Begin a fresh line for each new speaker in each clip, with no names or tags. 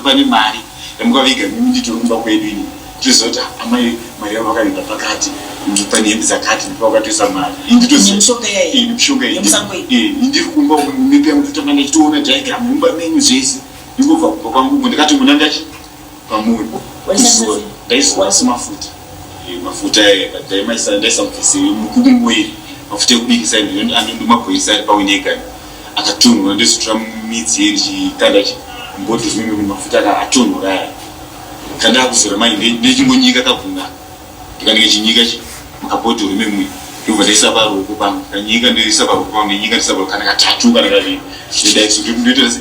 pane mari yamukaviga mimi nditori kumba kwedu ini tizoti amai mari yavo vakaviga pakati pane hembe dzakati ndipo vakatoisa mari indiri kumba mipi yangu totanga ndichitoona diagram mumba menyu zvese ndingobva kumba kwangu ndikati muna ndachi pamuri ndaiziva ndaiziva asi mafuta Eh, mafuta eh, but dai maisa ndaisamubvisi mukubi muiri mafuta ekubikisa anondomabhoirisa ari pawinegani akatonhora ndozotora midzi ye ndichikanda chi mboto zvimwe kuti mafuta aka atonhora aya kanda akuzora manje nde- ndechingonyika kaguna ndikanenge chinyika chi makabhodhoro memwe ndobva ndaisa paruoko pangu kanyika ndoisa paruoko pangu ndenyika ndoisa paruoko kana katatu kana kaviri zvedaiso ndoita se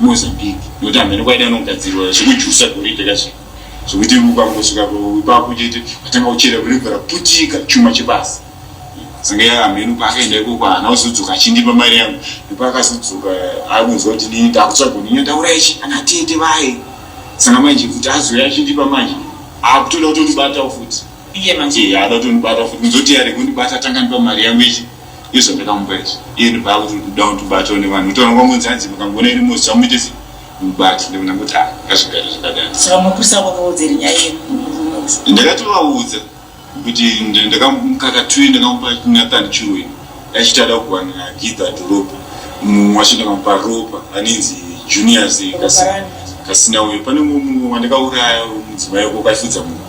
Mozambique nekuti hameno kwaida anogadzirwa zvekujusa goridhe kazvi zvekuti ukangosvika ipapo chete atanga kuchera kurimvura putika chuma chebasa senge hameno paakaenda ikoko haana kuzodzoka achindipa mari yangu nepakazodzoka akunzwa kuti nini ndakutsvagoni nyotaura ichi ana tete vaye sanga manje kuti azouya achindipa manje akutoda kutondibatawo futi iye manje haada
kutondibata futi
kuzoti yare kundibata atangandipa mari yangu ichi Iyo zvandakamupa izvi iye ndobva akuti uri kuda kutobatawo nevanhu kutaura kwangu kunzi hanzi mukangoona iri mosi chamuite sei mubati ndikona kuti a ngazvigare zvakadai saka mapurisa akakaudzeri
nyaya yemurume uyu
ndakatovaudza kuti nd- ndakamukaka twi ndakamupa nathan chiwe achitada kuwana gidha dhorobha mumwe wacho ndakamupa ropa anenzi juniors Ropa kasi- rani? kasina uyo pane mumwe wandakauraya mudzimai ko kaifudza mumwe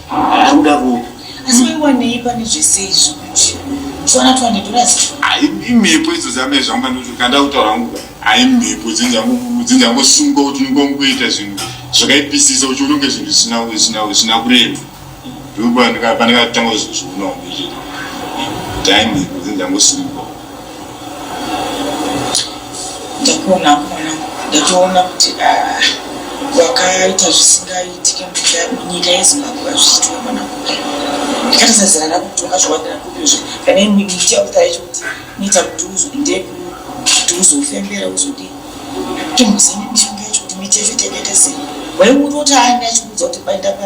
Ndokuda kupi? Asi wewe wandei pane zvese izvo kuti twana twande dollars. Ai imhepo idzo
dzame zvangu panoti kanda kutaura hangu ai mhepo dzinzangu dzinzangu sunga kuti unongo kuita zvinhu zvakaipisisa uchiona kunge zvinhu zvisina zvisina zvisina kurema. Ndipo pandikatanga kuzozvionawo ndichiti dai mhepo dzinzangu sunga.
ndakuona hangu mwanangu ndatoona kuti ah, wakaita zvisingaitike munyika yezimbabwe vazviitwa mwanangu ndikatisa zera rako kuti ungazviwanira kupizve kana imwe mitia kuti aicho kuti niita kuti uzondeku kuti uzofembera uzodii kuti muzini mishonga yacho kuti michecho teketesei waiuri kuti aani achikuudza kuti paenda pa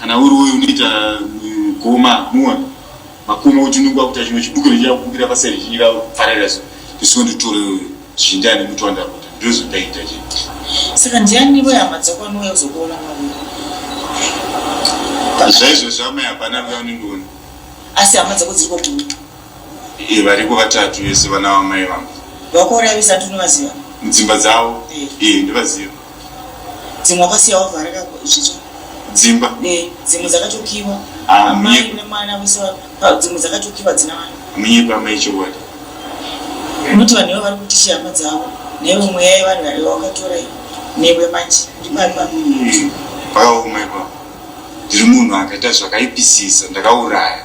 Kana uri uyu unoita goma muwa makoma uchinungwa kuti chimwe chibuko nechira kubukira paseri chinyira farira so ndisiwo nditore zhinda ane mutu wandakuta ndizvo ndaita chi saka ndiani
iwe hama dzako anouya kuzokuona
maviri zvaizvo zvamai hapana vya unondiona asi hama
dzako dziri kwakuti Eh, variko
vatatu vese vana vamai vangu. Vakore avisa
tunovaziva? Mudzimba dzavo?
Eh. Eh, ndivaziva.
Dzimwe wakasiya wavhara ka zvicho? Dzimba?
Eh, dzimwe
dzakatokiwa. Ah, mai mune mwana vese dzimwe dzakatokiwa dzina vana. Munyepa amai chokwadi. Unoti vanhu ivo vari kuti shama dzavo newe mweya yevanhu vari wakatora newe manje ndipapa. Pakaoma
ipapo. Ndiri munhu akaita zvakaipisisa ndakauraya.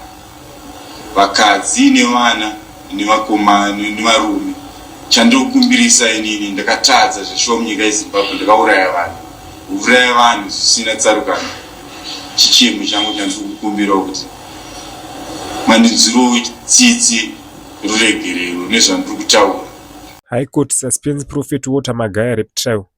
vakadzi nevana nevakomana nevarume chandinokumbirisa inini ndakatadza zveshomu nyika yezimbabwe ndakauraya vanhu kuuraya vanhu zvisina tsarukano chichemo changu chandiri kukumbirawo kuti mandinzwirowo tsitsi ruregerero nezvandiri kutaura high court
suspense prophet water magaya rep trial